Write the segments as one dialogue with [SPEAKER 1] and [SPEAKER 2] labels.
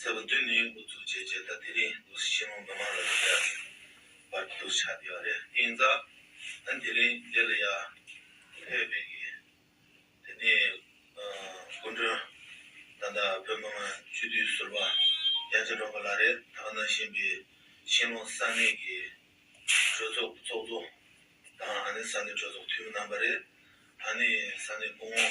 [SPEAKER 1] ཚད་པ་བདུན་ནི་འགོ་འཛུགས་བྱས་རྗེས་ད་ལྟའི་རིང་ནོར་སྲིད་ཆེན་མོ་མི་མང་ལ་ལས་ཀ་བར་དུ་ཆགས་བསྡད་པ་རེད་ཨིན་ད། ད་དེ་རིང་འདི་ལ་ཡར་ཕེབས་པའི་གི་དེ་ནས་སྐུ་མགྲོན་ད་ལྟ་བོད་མི་མང་སྤྱི་འཐུས་ཟུར་པ་རྒྱལ་མཚན་སྒྲོལ་མ་ལགས་རེད་ད་གནང་བཞིན་པའི་ཤིང་ལོང་ས་གནས་ཀྱི་གྲོས་ཚོགས་གཙོ་གཙོ་དང་ཨ་ནེ་ས་གནས་གྲོས་ཚོགས་འཐུས་མི་རྣམ་པ་རེད་ཨ་ནེ་ས་གནས་སྐུ་ངོ།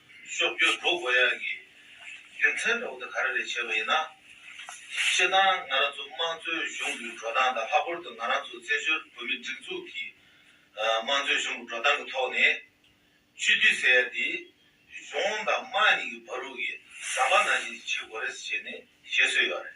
[SPEAKER 1] སོགས་བརྗོད་དོ་གོ་ཡག་གི་རྒྱུ་མཚན་ཐོག་ཏུ་ག་རེ་ལས་བྱས་པ་ཡིན་ན། སྤྱིར་བཏང་ང་རང་ཚོ་དམངས་གཙོའི་གཞུང་གི་འགྲོ་སྟངས་དང་ལྷག་པར་དུ་ང་རང་ཚོ་བཙན་བྱོལ་བོད་མིའི་སྒྲིག་འཛུགས་ཀྱི་དམངས་གཙོའི་གཞུང་གི་འགྲོ་སྟངས་ཀྱི་ཐོག་ནས། སྤྱི་འཐུས་ཟེར་ཡ་དེ་གཞུང་དང་དམངས་གཉིས་ཀྱི་བར་དབུགས་ཀྱི་ཟམ་པ་ནང་བཞིན་དུ་བྱེད་དགོས་རེད་ཟེར་ནས་བཤད་སྲོལ་ཡོད་རེད།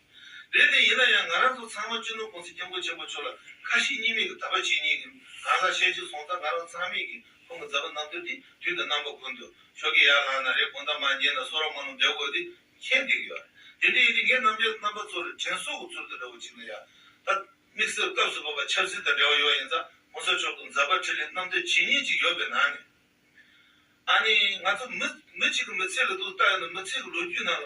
[SPEAKER 1] རེད་དེ་ཡིན་ན་ཡང་ང་རང་ཚོ་ཚང་མ་སྤྱི་ནོར་ཀུང་སི་སྐྱབས་མགོན་ཆེན་པོ་མཆོག་ལ་ཁ་ཞེ་གཉིས་མེད་ཀྱི་དག་པ་བྱེད་ཉེས་ཀྱི་གང་ཟག་བཤད་ཅིག་སོང་ད་ང་རང་ཚང་མེད་ཀྱི་ཁོང་གི་མཛའ་བ་རྣམ་ཐོས་དེ་དུས་ད་རྣམ་པ་ཁུར་འདུག་ཤོག་གི་ཡར་ལངས་ན་རེད་དགོངས་དག་མ་རྙེད་ན་སོ་ར་མ་ནུ་བསྡད་དགོས་དེ་མཁྱེན་འདུག་ཡོད་རེད་དེ་ཡིན་དུས་ངས་རྣམ་རྒྱལ་རྣམ་པ་ཚོར་དྲན་གསོ་གི་ཚུལ་དུ་འདྲ་བོ་གཅིག་ན་ཡང་ད་དམིགས་བསལ་སྐབས་སུ་བབ་པ་ཆབ་སྲིད་དང་འབྲེལ་བ་ཡོད་ཡིན་ཙང་ཁོང་ཚོའི་ཕྱོགས་ཀྱི་མཛའ་བ་ཁྲི་ལེ་རྣམ་ཐོས་བྱེད་ཉེས་གཅིག་ཡོད་པའི་ནང་ནས་ཨ་ནི་ང་ཚོ་མི་མི་གཅིག་གི་མི་ཚེ་ལ་དུ་ལྟ་ཡོང་ན་མི་ཚེ་གི་ལོ་རྒྱུས་ནང་ལ་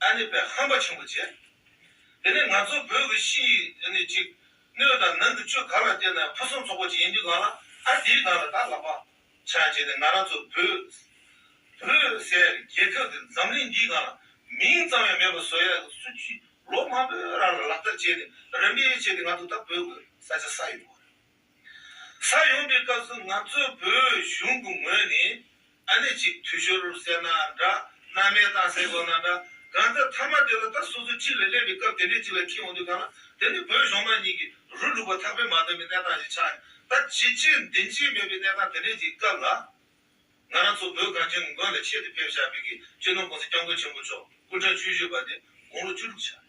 [SPEAKER 1] ཨ་ནི་པའི་ཧམ་པ་ཆེན་པོ་བྱས། དེ་ནས་ང་ཚོ་བོད་ཀྱི་ཕྱི་ཡི་ཨ་ནི་གཅིག། སྣོད་དང་ནང་གི་ཆོས་གང་ལ་བརྟེན་ནའི་ཕུན་སུམ་ཚོགས་པོ་ཅིག་ཡིན་དུས་གང་ལ་ཨ་དེའི་ནང་ལ་དྭགས་ལ་པ། ཆང་བྱས་ནས་ང་རང་ཚོ་བོད། བོད་ཟེར་རྒྱལ་ཁབ་འདི་འཛམ་གླིང་འདིའི་ནང་ལ་མིང་ཙམ་ཡང་མེད་པར་བཟོ་ཡ་གི་སུ་ཅིས་ལོ་མང་པོའི་རང་ལ་ལག་བསྟར་བྱས་ནས་རིམ་པས་བྱས་ཏེ་ང་ཚོ་ད་བོད་ཀྱི་ས་ཆ་ས་ཡོད་པ། ས་ཡོང་པའི་སྐབས་སུ་ང་ཚོས་བོད་གཞུང་གི་ངོས་ནས་ཨ་ནེ་གཅིག་དུས་ཤོར་ཟེར་ན་འདྲ་མནའ་མའི་གཏམ་ཟེར་དགོས་ན་འདྲ་གང་ལྟར་མཐའ་མ་དེ་ལ་ད་སོ་སོ་གཅིག་ལ་སླེབས་པའི་སྐབས་དེ་འདྲའི་གཅིག་ལ་ཁྱི་འོང་དུས་གང་ལ་དེ་ནི་བོད་གཞུང་མ་གཉིས་ཀྱི་རུ་ལུགས་པ་ཐག་པས་མ་འདོན་པའི་གནས་སྟངས་ཞིག་ཆགས་ཡོད་ད་བྱིས་བྱིས་འདི་འབྱིས་མེད་པའི་གནས་སྟངས་དེ་འདྲའི་གཅིག་སྐབས་ལ་ང་རང་ཚོ་བོད་གངས་ཅན་གྱི་མགོན་ལ་ཆེད་དུ་ཕེབས་བཞག་བོད་ཀྱི་གཅེས་ནོར་ཀུང་སིའི་སྐྱབས་མགོན་ཆེན་པོ་མཆོག་སྐུ་འཕྲེང་བཅུ་བཞི་པ་དེ་དགུང་ལོ་བཅུ་དྲུག་ཆགས།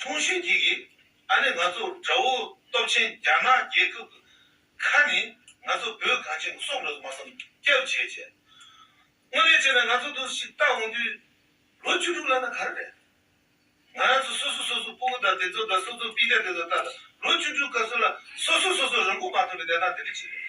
[SPEAKER 1] ཆུང་ཞིང་སྐྱིད་ཀྱི་ཨ་ནེ་ང་ཚོ་དགྲ་བོ་སྟོབས་ཆེན་རྒྱ་ནག་རྒྱལ་ཁབ་གི་ཁ་ནས་ང་ཚོ་བོད་གངས་ཅན་གྱི་སྲོག་འགྲོ་དུ་མ་བསམ་སྐྱབས་བྱས་བྱས། དངོས་རེད་བྱས་ན་ང་ཚོ་དུ་ཞིག་བལྟ་འོང་དུས་ལོ་བཅུ་དྲུག་ལ་ན་ག་རེ་རེད། ང་རང་ཚོ་སོ་སོ་སོ་སོ་སྤོ་བོ་དང་དེ་ཚོ་དང་སོ་སོ་པི་ཏྲ་དེ་ཚོ་ལྟ་ལ་ལོ་བཅུ་དྲུག་ག་ཚོད་ལ་སོ་སོ་སོ་སོ་རང་མགོ་མ་ཐོན་པའི་གནས་སྟངས་དེ་འདྲ་བྱེད་ཀྱི་རེད།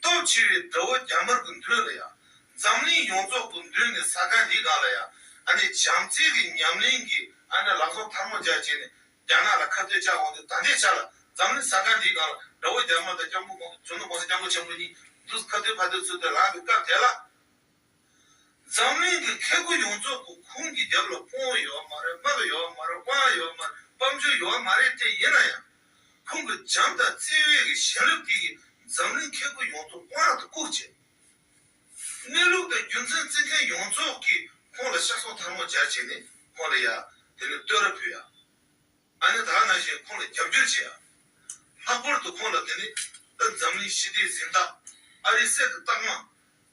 [SPEAKER 1] སྟོབས་ཆེ་བའི་དགྲ་བོ་རྒྱ་དམར་གྱི་མདུན་ལ་ཡང། འཛམ་གླིང་ཡོངས་རྫོགས་ཀྱི་མདུན་ནས་ས་ག་འདི་ག་ལ་ཡང། ཨ་ནི་བྱམས་བརྩེ་གི་ཉམས་ལེན་གྱིས་ཨ་ནི་ལག་ཟུང་ཐར་མོ་སྦྱར་བྱས་ནས་རྒྱ་ནག་ལ་ཁ་བཏོད་བཅག་འོང་དུས་ད་ལྟའི་ཆ་ལ་འཛམ་གླིང་ས་ག་འདི་ག་ལ་དགྲ་བོ་རྒྱ་དམར་དང་སྐྱབས་མགོན་ཁོང་དུ་ཆུང་ནུ་གོང་ས་སྐྱབས་མགོན་ཆེན་པོ་གཉིས་འདུག་ཁ་བཏོད་ཕ་བཏོད་ཚུལ་དེ་ལགས་པའི་སྐབས་དེ་ལ། འཛམ་གླིང་གི་མཁས་རྒུ་ཡོངས་རྫོགས་ཀུ་ཁུང་གི་རྒྱབ་ལ་སྤོང་བོ་ཡོད་མ་རེད་དམག་ཡོད་མ་རེད་དབང་ཡོད་མ་རེད་དཔའ་མཆོད་ཡོད་མ་རེད་དེ་ཡིན་ན་ཡང། ཁོང་གི་བྱམས་དང་བརྩེ་བས་ཀྱི་ཞེན་རབ་ཀྱིས་ཀྱི་འཛམ་གླིང་མཁས་རྒུ་ཡོངས་རྫོགས་དབང་དང་བཀུག་བྱས། གནས་ལུགས་དང་རྒྱུ་མཚན་བརྩི་མཁན་ཡོངས་རྫོགས་ཀྱིས་ཁོང་ལ་ཤ་སོགས་ཐར་མོ་སྦྱར་བྱས་ནས་ཁོང་ལ་ཡ། དེ་ནི་བསྟོད་ར་ཕུལ་ཡ། ཨ་ནི་དག་ན་བཞིན་ཁོང་ལ་རྒྱབ་སྐྱོར་བྱས་ཡ། ལྷག་པོར་དུ་ཁོང་ལ་དེ་ནི་ཏི་འཛམ་གླིང་ཞི་བདེའི་གཟེངས་རྟགས། ཨ་རིའི་གསེར་གྱི་རྟགས་མ།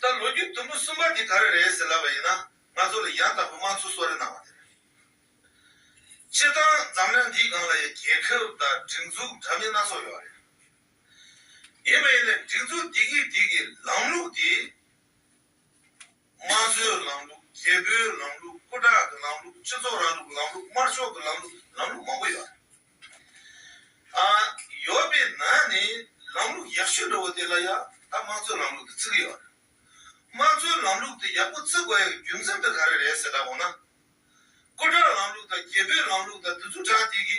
[SPEAKER 1] ད་ལོ་རྒྱུས་དུམ་བུ་གསུམ་པ་འདི་ག་རེ་རེད་ཟེར་ལབ་པ་ཡིན་ན་ང་ཚོ་ལ་ཡང་དག་པའི་དམངས་གཙོ་གསོལ་རས་གནང་བ་དེ་རེད། སྤྱིར་བཏང་འཛམ་གླིང་འདིའི་སྒང་ལ་ཡང་རྒྱལ་ཁབ་དང་སྒྲིག་འཛུགས་འདྲ་མིན་སྣ་ཚོགས་ཡོད་པ་རེད། ཡིན་པ་ཡིན་ལ་སྒྲིག་འཛུགས་འདི་གིས་འདི་གི་ལམ་ལུགས་དེ། དམངས་གཙོའི་ལམ་ལུགས་རྒྱལ་པོའི་ལམ་ལུགས་སྐུ་དྲག་གི་ལམ་ལུགས་སྤྱི་ཚོགས་ར་ལུགས་ལམ་ལུགས་དམར་ཕྱོགས་ཀྱི་ལམ་ལུགས་ལམ་ལུགས་མང་པོ་ཡོད། ཨ། ཡོད་པའི་ནང་ནས་ལམ་ལུགས་ཡག་ཤོས་འདྲ་བོ་དེ་ལ་ཡང་ད་དམངས་གཙོའི་ལམ་ལུགས་དེ་བརྩི་གི་ཡོད། དམངས་གཙོའི་ལམ་ལུགས་དེ་ཡག་པོ་བརྩི་དགོས་ཡག་རྒྱུ་མཚན་དེ་ག་རེ་རེད་ཟེར་ད་གོ་ན། སྐུ་དྲག་ལམ་ལུགས་དང་རྒྱལ་པོའི་ལམ་ལུགས་དང་དེ་ཚོ་དྲག་སྟེ་གི་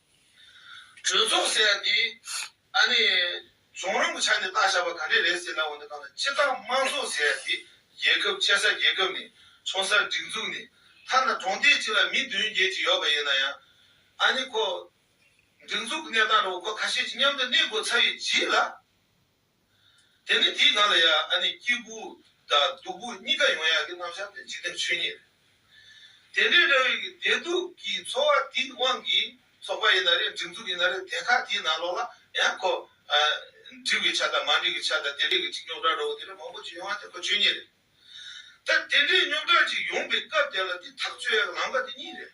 [SPEAKER 1] གྲོས་ཚོགས་ཟེར་ཡ་འདི། ཨ་ནི། རྫོང་རིན་པོ་ཆ་ནས་བཏགས་བཞག་པ་ག་འདྲས་རེད་ཟེར་ན་འོ་ན་གང་ལ་སྤྱི་བཏང་དམངས་གཙོ་ཟེར་ཡ་འདི་རྒྱལ་ཁབ་སྤྱད་ས་རྒྱལ་ཁབ་ནས་ཆོག་ས་སྒྲིག་འཛུགས་ནས་ཐ་ན་གྲོང་སྡེ་གཅིག་ལ་མི་བདུན་བརྒྱད་ཅིག་ཡོད་པ་ཡིན་ན་ཡང། ཨ་ནི་ཁོ། སྒྲིག་འཛུགས་ཀྱི་གནས་སྟངས་འགྲོ་བ་ཁོ་ཁ་ཤས་ཀྱི་མཉམ་དུ་གནས་དགོས་ཚར་ཡོད་ཀྱིས་ལ། དེ་ནི་དེའི་ནང་ལ་ཡ་ཨ་ནི་སྐྱིད་སྦུག་དང་སྡུག་སྦུག་གཉིས་ཀ་ཡོང་ཡག་གི་རྣམ་གཞག་དེ་འཇིག་རྟེན་ཆོས་ཉིད་རེད། དེ་འདྲའི་འདྲ་བའི་བདེ་སྡུག་གི་འཚོ་བ་དེའི་དབང་གིས་ཚོགས་པ་ཡིན་ན་རེད་སྒྲིག་འཛུགས་ཡིན་ན་རེད་དེ་ཁག་དེའི་ནང་ལོགས་ལ་ཡང་ཁོ་འགྲིག་བའི་ཆ་དང་མ་འགྲིག་གི་ཆ་དང་དེ་འདྲས་ཀྱི་ཅིག་རྙོག་དྲ་འགྲོ་བ་དེ་འདྲ་མང་པོ་ཅིག་ཡོང་ཡག་དེ་ཁོ་ཆོས་ཉིད་རེད། ད་དེ་འདྲའི་རྙོག་དྲ་ཅིག་ཡོང་པའི་སྐབས་དེ་ལ་དེ་ཐག་གཅོད་ཡག་ལམ་ཁ་དེ་གཉིས་རེད།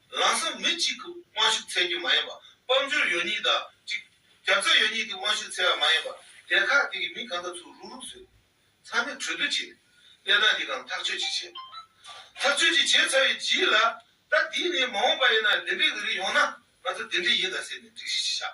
[SPEAKER 1] ལག་ས་མི་གཅིག་གི་དབང་ཤུགས་ཚད་རྒྱུ་མ་ཡིན་པ་དཔལ་འབྱོར་ཡོད་ཉིད་དང་གཅིག། རྒྱབ་རྩ་ཡོད་ཉིད་ཀྱི་དབང་ཤུགས་ཚད་བ་མ་ཡིན་པ་སྡེ་ཁག་དེ་གི་མི་གང་དག་ཚུར་རུག་རུག་བཟོས། ཚང་མས་གྲོས་བསྡུར་བྱས་ནས་གནས་སྟངས་འདི་གང་ཐག་གཅོད་ཅིག་བྱས། ཐག་གཅོད་ཅིག་བྱས་ཚར་བའི་རྗེས་ལ། ད་དེ་ནས་མ་འོངས་པ་ཡིན་ན་འདི་འདྲའི་གི་རིགས་ཡོང་ན་ང་ཚོ་དེ་འདྲའི་ཡིན་ད་ཟེར་ནས་སྒྲིག་གཞི་ཞིག་བཞག།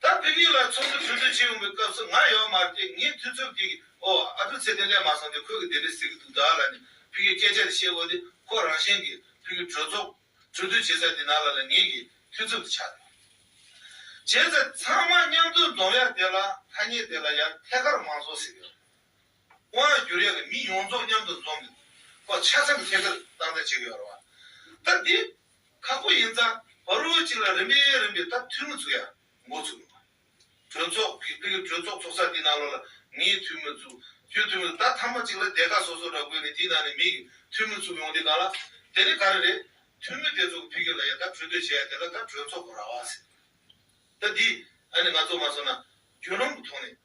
[SPEAKER 1] ད་བོད་མི་ལ་ཚོགས་འདུ་གྲོས་བསྡུར་བྱེད་འོང་པའི་སྐབས་སུ་ང་ཡོད་མ་བལྟས་ངའི་ཐུགས་འཚུབ་ཀྱིས་ཨོ་ཨ་ཕོ་ཚེ་བརྟན་གླེང་མ་སོང་སྟེ་ཁོས་གི་དེ་འདྲས་ཟེར་གི་འདུག་བདག་ལ་ནི་ཕིང་གིས་སྐད་ཆ་དེ་བཤད་འོང་སྟེ་ཁོ་རང་བཞིན་གྱིས་ཕིང་གི་གྲོས་ཚོགས་གྲོས་བསྡུར་བྱེད་ས་དེ་ནང་ལ་ལ་ངེད་ཀྱི་ཐུགས་འཚུབ་དེ་ཆགས་ཡོད། བྱས་ཚེ་ཚང་མ་མཉམ་དུ་འདོམས་ཡ་དེ་ལ་ཐ་སྙད་དེ་ལ་ཡང་ཐད་ཀར་མང་ཚོགས་ཟེར་ཡོད། དབང་ཡང་བསྒྱུར་ཡ་གི་མི་ཡོངས་རྫོགས་མཉམ་དུ་འཛོམས་ཏེ་ཁོ་ཆ་ཚང་གི་ཐད་ཀར་སྟངས་འཛིན་བྱེད་གི་ཡོད་རེད་བ། ད་དེ་ཁག་པོ་ཡིན་ཙང་བ་རོལ་ཅིག་ལ་རིམ་པས་རིམ་པས་ད་ཐུས་མི་ཚུགས་ཡག་མགོ་ཚུགས་དགོས་པ། གྲོས་ཚོགས་ཀྱི་དཔེ་གྲོས་ཚོགས་ཚོགས་ས་དེའི་ནང་ལོགས་ལ་ངའི་ཐུས་མི་ཚུགས་ཁྱོའི་ཐུས་མི་ཚུགས་ད་མཐའ་མ་ཅིག་ལ་སྡེ་ཁག་སོ་སོ་འདྲ་བགོས་ནས་དེའི་ནང་ནས་མི་གི་ཐུས་མི་ཚུགས་ཡོང་དེ་གང་ལ་དེ་ནི་ག་རེ་རེད་ཐུས་མི་དེ་ཚོ་གི་ཕི་གེ་ལ་ཡ་ད་གྲོས་བསྡུར་བྱེད་ཡ་དེ་ལ་ད་གྲོས་ཚོགས་ཀྱི་ར་བ་ཟེར་ད་འདི་ཨ་ནི་ང་ཚོ་མ་སོང་ན་རྒྱུ་ནོམ་གྱི་ཐོག་ནས།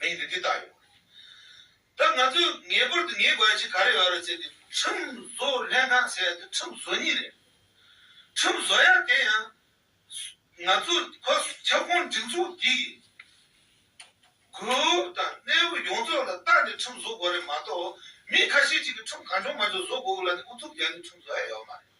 [SPEAKER 1] མིང་དེ་འདི་ལྟར་ཡོད། ད་ང་ཚོས་ངེས་པར་དུ་ངེས་དགོས་ཆེད་ག་རེ་ཡོད་རེད་ཟེར་ཏེ་ཁྲིམས་བཟོ་ལྷན་ཁང་ཟེར་དེ་ཁྲིམས་བཟོ་གཉིས་རེད། ཁྲིམས་བཟོ་ཡག་དེ་ཡང། ང་ཚོ་ཁོ་ཁྱབ་ཁོངས་སྒྲིག་འཛུགས་འདི་ཡི། དགོས་དབུ་དང་གནས་བབ་ཡོངས་རྫོགས་ལ་བརྟགས་ནས་ཁྲིམས་བཟོ་དགོས་རེད་མ་གཏོགས་མི་ཁ་ཤས་ཅིག་གིས་ཁྲིམས་གང་བྱུང་མ་བྱུང་བཟོ་དགོས་ལ་ནི་ཨུ་ཚུགས་བརྒྱབ་ནས་ཁྲིམས་བཟོ་ཡག་ཡོད་མ་རེད།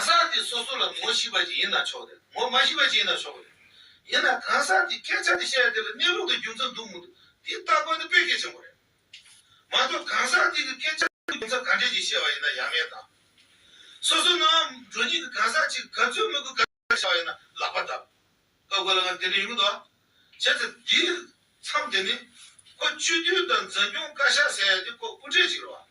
[SPEAKER 1] གང་ཟག་དེ་སོ་སོ་ལ་ངོ་ཤེས་པ་ཅིག་ཡིན་ན་ཆོག་དེར་ངོ་མ་ཤེས་པ་ཅིག་ཡིན་ན་ཆོག་གི་རེད། ཡིན་ན་གང་ཟག་དེའི་སྐད་ཆ་དེ་བཤད་དེ་ལ་གནས་ལུགས་དང་རྒྱུ་མཚན་འདུག་མི་འདུག་དེ་ལྟ་དགོས་ནི་དཔེ་གལ་ཆེན་པོ་རེད། མ་གཏོགས་གང་ཟག་དེ་གི་སྐད་ཆ་དེ་རྒྱུ་མཚན་ག་འདྲས་ཀྱིས་བཤད་པ་ཡིན་ན་ཡ་མེད་དང། སོ་སོ་ནང་བ་འགྲོ་ཉིད་ཀྱི་གང་ཟག་ཅིག་ག་ཚོད་མི་དགོས་ག་འདྲས་བཤད་པ་ཡིན་ན་ལག་པ་བརྡབ་ཀ་དགོས་ལ་ང་དེ་འདྲས་ཡིན་མི་འདུག་ཨ། བྱས་ཚེ་འདིའི་མཚམས་འདི་ནི། ཁོ་སྤྱི་འཐུས་དང་འཛིན་སྐྱོང་བཀའ་ཤག་ཟེར་ཡ་དེ་ཁོ་སྐུ་དྲེག་ཅིག་རེད་བ།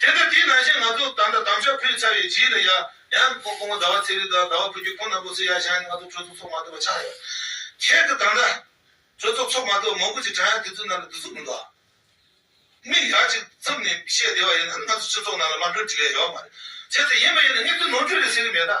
[SPEAKER 1] དེ་ལྟར་དེའི་ནང་བཞིན་ང་ཚོ་དང་དང་དམ་ཆོས་ཕུལ་ཚར་བའི་རྗེས་ལ་ཡ། ཡང། ཁོང་ཁོ་མོ་ཟླ་བ་ཚེ་རིང་དང་ཟླ་བ་ཕུར་རྒྱུད་ཁོང་རྣམ་པོ་ཚོས་ཡ་བཞག་ནས་ང་ཚོ་གྲོས་ཚོགས་ཚོགས་མ་ཐུབ་པ་ཆགས་ཡོད། ཁྱེད་ཀྱི་དང་དང། གྲོས་ཚོགས་ཚོགས་མ་ཐུབ་མང་པོ་ཅིག་དྲན་ཡ་དེ་ཚོའི་ནང་ལ་བསྡུ་ཚུལ་མི་འདུག་ཨ། མིག་ཡ་གཅིག་ཙུམ་ནས་བཤད་བདེ་བ་ཡིན་ན་ང་ཚོ་སྤྱི་ཚོགས་ནང་ལ་མར་འགྲོ་འགྲིག་ཡ་ཡོད་མ་རེད། བྱས་ཙང་ཡིན་མ་ཡིན་ནི་ངས་ཚོའི་ནོར་འཁྲུལ་རེད་ཟེར་གི་མེད་ཨ།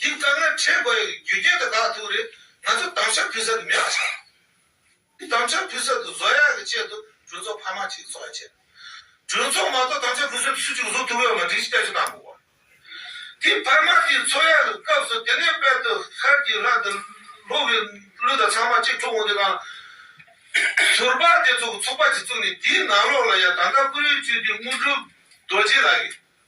[SPEAKER 1] འདི་ལྟར་ན་ཁྲེས་དགའ་ཡོད་རྒྱུ་རྒྱན་དུ་དགག་ཐུག་རེད་ང་ཚོ་དམ་བཅའ་ཕུལ་ས་དུ་མི་ཡག་ཆགས་འདུག་དམ་བཅའ་ཕུལ་ས་དུ་བཟོ་ཡག་གི་ཆེད་དུ་གྲོས་ཚོགས་ཕ་མ་ཅིག་བཟོ་ཡག་ཆེད་དུ་གྲོས་ཚོགས་མ་གཏོགས་དམ་བཅའ་ཕུལ་སའི་ཚུལ་ཅིག་བཟོ་ཐུབ་ཡོད་མ་དྲིན་ཅིག་ལྟ་ཅི་གནང་དགོས་པ་དེ་ཕ་མ་དེ་འཚོ་ཡག་གི་སྐབས་སུ་དེ་ནས་དཔལ་དུ་ཤར་གྱི་ལྷ་དེ་ལོག་གི་ལུས་དང་ཚང་མ་གཅིག་འཁྲུག་འོང་དེ་གང་ཟུར་པ་དེ་ཚོ་ཚོགས་པ་ཅིག་བཙུགས་ནས་དེའི་ནང་ལོག་ལ་ཡང་ད་ལྟ་ཀུ་རེའི་སྤྲུལ་སྡེ་དངོས་གྲུབ་རྡོ་རྗེ་ལགས་ཀྱིས།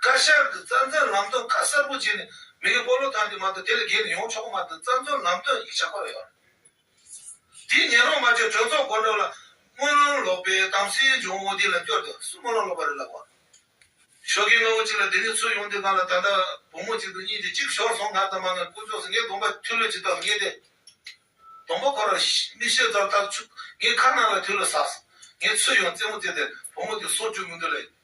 [SPEAKER 1] བཀའ་ཤག་གི་རྩ་འཛིན་ལམ་སྟོན་ཁ་གསལ་པོ་བྱས་ནས་མི་རིགས་སྤོ་ལོ་ཐང་གི་མ་གཏོགས་དེ་ལས་བརྒལ་ནས་ཡོང་ཆོག་གི་མ་རེད་རྩ་འཛིན་ལམ་སྟོན་ཡིག་ཆ་བཀོད་ཡོད་རེད། དེའི་ཉན་རོགས་མ་བྱས་གྲོས་ཚོགས་སྒོ་འགྲོ་ལ་དམུས་ལོང་ལོག་པས་དམ་སྲིའི་འབྱུང་བོ་འདི་ལ་སྐྱོ་སྟེ་སུ་དམུས་ལོང་ལོག་པ་རེད་ལབ་བ། ཞོགས་ཀྱི་གནོད་བོ་གཅིག་ལ་དེ་ནས་ཚུར་ཡོང་དུས་ང་ལ་ད་ལྟ་བུ་མོ་གཅིག་འདུག་གཉིས་དེ་གཅིག་ཤོར་སོང་ང་དང་མ་ནག་ཀུན་ཅོག་ཟེར་ངའི་གདོང་པ་ཐུལ་ལོས་ཇི་ལྟར་རྙེད་དེ། གདོང་པ་ཁོ་རང་མིག་ཤེལ་ལྟར་ལྟར་ཆུག་ངའི་ཁ་ནང་ལ་ཐུལ་ལོས་ཟགས་སོང་ངས་ཚུར་ཡོང་རྩེད་མོ་རྩེས་དེར་བུ་མོ་དེ་སོང་བཅུག་མི་འདུག་ལས།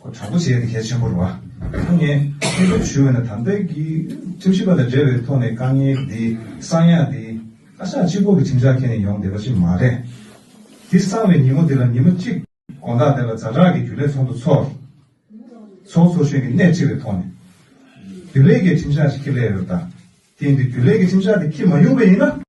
[SPEAKER 2] ཁོ་དྲག་པོ་བྱས་ནས་གལ་ཆེན་པོར་བ་ཁོ་ངས་ཁེ་ཕན་ཞུ་བས་ན་དམ་དཔལ་གྱི་ཁྲིམས་ཞིབ་པ་དང་འབྲེལ་བའི་ཐོག་ནས་དཀའ་ངལ་འདི་གསང་ཡག་འདི་བཀའ་ཤག་སྤྱི་ཁོག་གི་ཁྲིམས་འཆར་ཁྱེར་ནས་ཡོང་བསྡད་པ་ཞིག་མ་རེད། འདི་གསང་བའི་ཉིན་མོ་འདི་ལ་ཉིན་མོ་གཅིག་དགོངས་དག་དེ་ལ་ཛྭ་དྲག་གི་རྒྱུ་ལས་ཚོགས་འདུ་ཚོགས། ཚོགས་ཚོགས་ཤོས་ཀྱི་སྣེ་ཁྲིད་པའི་ཐོག་ནས། རྒྱུ་ལས་ཀྱི་ཁྲིམས་འཆར་ཞིག་ཁྱེར་སླད་ཡོད་དཱ། དེ་ཡིན་དུས་རྒྱུ་ལས་ཀྱི་ཁྲིམས་འཆར་དེ་ཁྱེར་མ་མྱོང་པས་ཡིན་ན།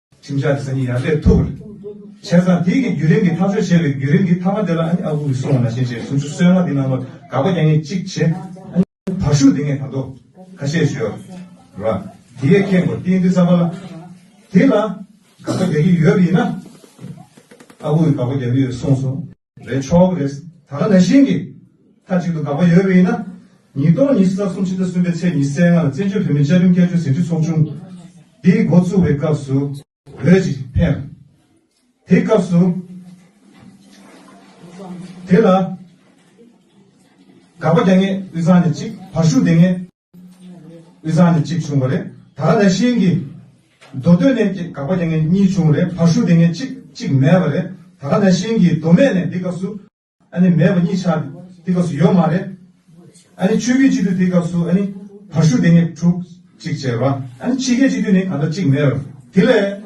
[SPEAKER 2] ཁྲིམས་འཆར་གྱི་སང་ཉིན་ཡར་སླེབས་ཐུབ། བྱས་ཙང་དེ་གིས་བརྒྱུད་རིམ་གྱི་ཐག་གཅོད་བྱས་པའི་བརྒྱུད་རིམ་གྱི་ཐ་མ་དེ་ལ་ཨ་ནི་ཨ་ཁུ་གིས་གསུང་བ་ན་ཤེས་བྱའི་ཟུང་ཆུ་སོལ་མ་དེ་ནང་ལོག་དགག་པ་རྒྱག་ངེས་གཅིག་བྱེད། ཨ་ནི་བར་ཤུགས་འདེགས་ངེས་དང་ཐོག་ཁ་ཤས་ཞོར་ལ་དེ་ཡས་ཁེངས་པོ་ཏིང་ཏིང་བསམ་པ་ལ། དེ་ལ་དགག་པ་རྒྱག་གི་ཡོད་པ་ཡིན་ན། ཨ་ཁུ་གིས་དགག་པ་རྒྱག་གི་ཡོད་གསུངས་སོང། རེད་ཆོག་གི་རེད། ད་ལྟ་ན་ཤིང་གིས་མཐའ་གཅིག་ཏུ་དགག་པ་ཡོད་པ་ཡིན་ན། ཉིས་སྟོང་ཉི་ཤུ་རྩ་གསུམ་ཕྱི་ཟླ་གསུམ་པའི་ཚེས་ཉི་ཟེར་ལྔ་ལ་བཙན་བྱོལ་བོད་མིའི་བཅའ་ཁྲིམས་བསྐྱར་བཅོས་ཟིན་བྲིས་ཚོགས་ཆུང་དེའི་མགོ་བཙུགས་པའི་སྐབས་སུ། འོས་ཅིག་འཕེན། དེའི་སྐབས་སུ། དེ་ལ་དགག་པ་རྒྱག་ངེས་དབུས་གཙང་ནས་གཅིག་བར་ཤུགས་ལྡན་ངེས། ཨི་ཟག་ནས་གཅིག་བྱུང་བ་རེད། ད་ག་ནས་ཤིང་གི། རྡོ་སྟོད་ནས་ཀྱི་གག་པ་དེ་ངས་གཉིས་བྱུང་བ་རེད་བྷ་ཤུ་དེ་ངས་གཅིག་གཅིག་མེད་པ་རེད། ད་ག་ནས་ཤིང་གི་རྡོ་སྨད་ནས་འདི་སྐབས་སུ། ཨ་ནི་མེད་པ་གཉིས་ཆ། འདི་སྐབས་སུ་ཡོད་མ་རེད། ཨ་ནི་ཆུ་ཁའི་སྤྱི་མཐུས་འདི་སྐབས་སུ་ཨ་ནི། བྷ་ཤུ་དེ་ངས་དྲུག་གཅིག་བྱས་པ། ཨ་ནི་ཆི་ཁའི་སྤྱི་མཐུས་ནི་ག་འདྲ་གཅིག་མེད་པ་རེད། དེ་ལས།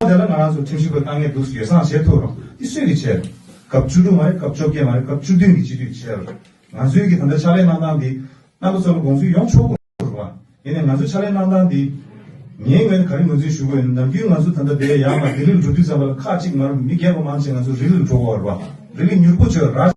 [SPEAKER 2] ཨོ་དེ་ལ་ང་རང་ཚོ་ཁྲིམས་ཞིབ་པ་གཏང་ངེས་འདུག་ཟེར་ཡོ་བསྲང་བྱེད་ཐུབ་རུང་འདི་སུས་ཀྱིས་བྱེད། སྐབས་བཅུ་དྲུག་མ་རེད་སྐབས་བཅོ་བརྒྱད་མ་རེད་སྐབས་བཅུ་བདུན་གྱི་སྤྱི་འཐུས་བྱེད། ང་ཚོའི་གི་ད་ལྟ་ཕྱག་ལས་གནང་སྟངས་འདི། རྣམ་པ་ཚོ་ལ་དགོངས་ཚུལ་ཡོང་ཆོག་གོ་རུ་བ། ཡིན་ནས་ང་ཚོའི་ཕྱག་ལས་གནང་སྟངས་འདི། ངའི་ངོས་ནས་ག་རེ་ངོས་འཛིན་ཞུ་དགོས་ཡོད་ནམ་རྒྱུན་ང་ཚོ་ད་ལྟ་འདས་ཡར་མ་ལྡི་ལི་ལ་འགྲོ་དུས་ཙམ་པ་ལ་ཁག་གཅིག་མ་རུ་མི་སྒེར་པ་མང་ཆེ་ང་ཚོ་རི་ལི་ལ་འགྲོ་གོ་རུ་བ། རི་ལི་མྱུར་པོ་བྱོས་ར།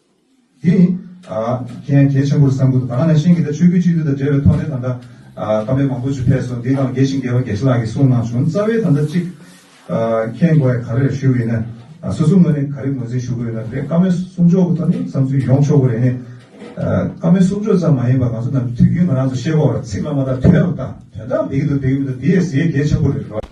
[SPEAKER 2] འདི་ནི། མཁན་རྒྱལ་ཆེན་པོར་བསམ་ཁུལ་དུ་ད་ལྟ་ནས་ཤིང་གི་དང་ཆོས་སྐུའི་གཅིག་སྡུད་དང་འབྲེལ་བའི་ཐོག་ནས་ད་ལྟ། སྐབས་རེ་མང་པོ་ཆུ་ཕེབས་སོ་འདི་དང་དགེ་ཞིང་དགེ་བ་དགེ་བཤེས་ལགས་ཀྱིས་གསུངས་གནང་བྱུང་རྩ་བའི་ད་ལྟ་གཅིག། མཁན་དགོན་བས་ག་རེ་ལ་ཞུ་གི་ཡིན་ན། སོ་སོ་ངོས་ནས་ག་རེ་ངོས་འཛིན་ཞུ་གི་ཡོད་ན་དེ་བཀའ་མོལ་གསུང་ཆོག་གི་ཐོག་ནས་བསམ་ཚུལ་ཡོང་ཆོག་གི་རེད་ནས། བཀའ་མོལ་གསུང་ཆོག་ཙམ་མ་ཡིན་པར་ང་ཚོ་རྣམས་ཀྱིས་དུས་རྒྱུན་ང་རང་ཚོ་ཤེས་རྐོག་ར་ཚིག་བླ་མ་དག་དོན་རྣམས་དང་དོན་དག་འདི་གི་འདུག་དེ་གི་མི་འདུག་འདི་ཡས་ཟེ་རྒྱལ་ཆེན་པོ་རེད།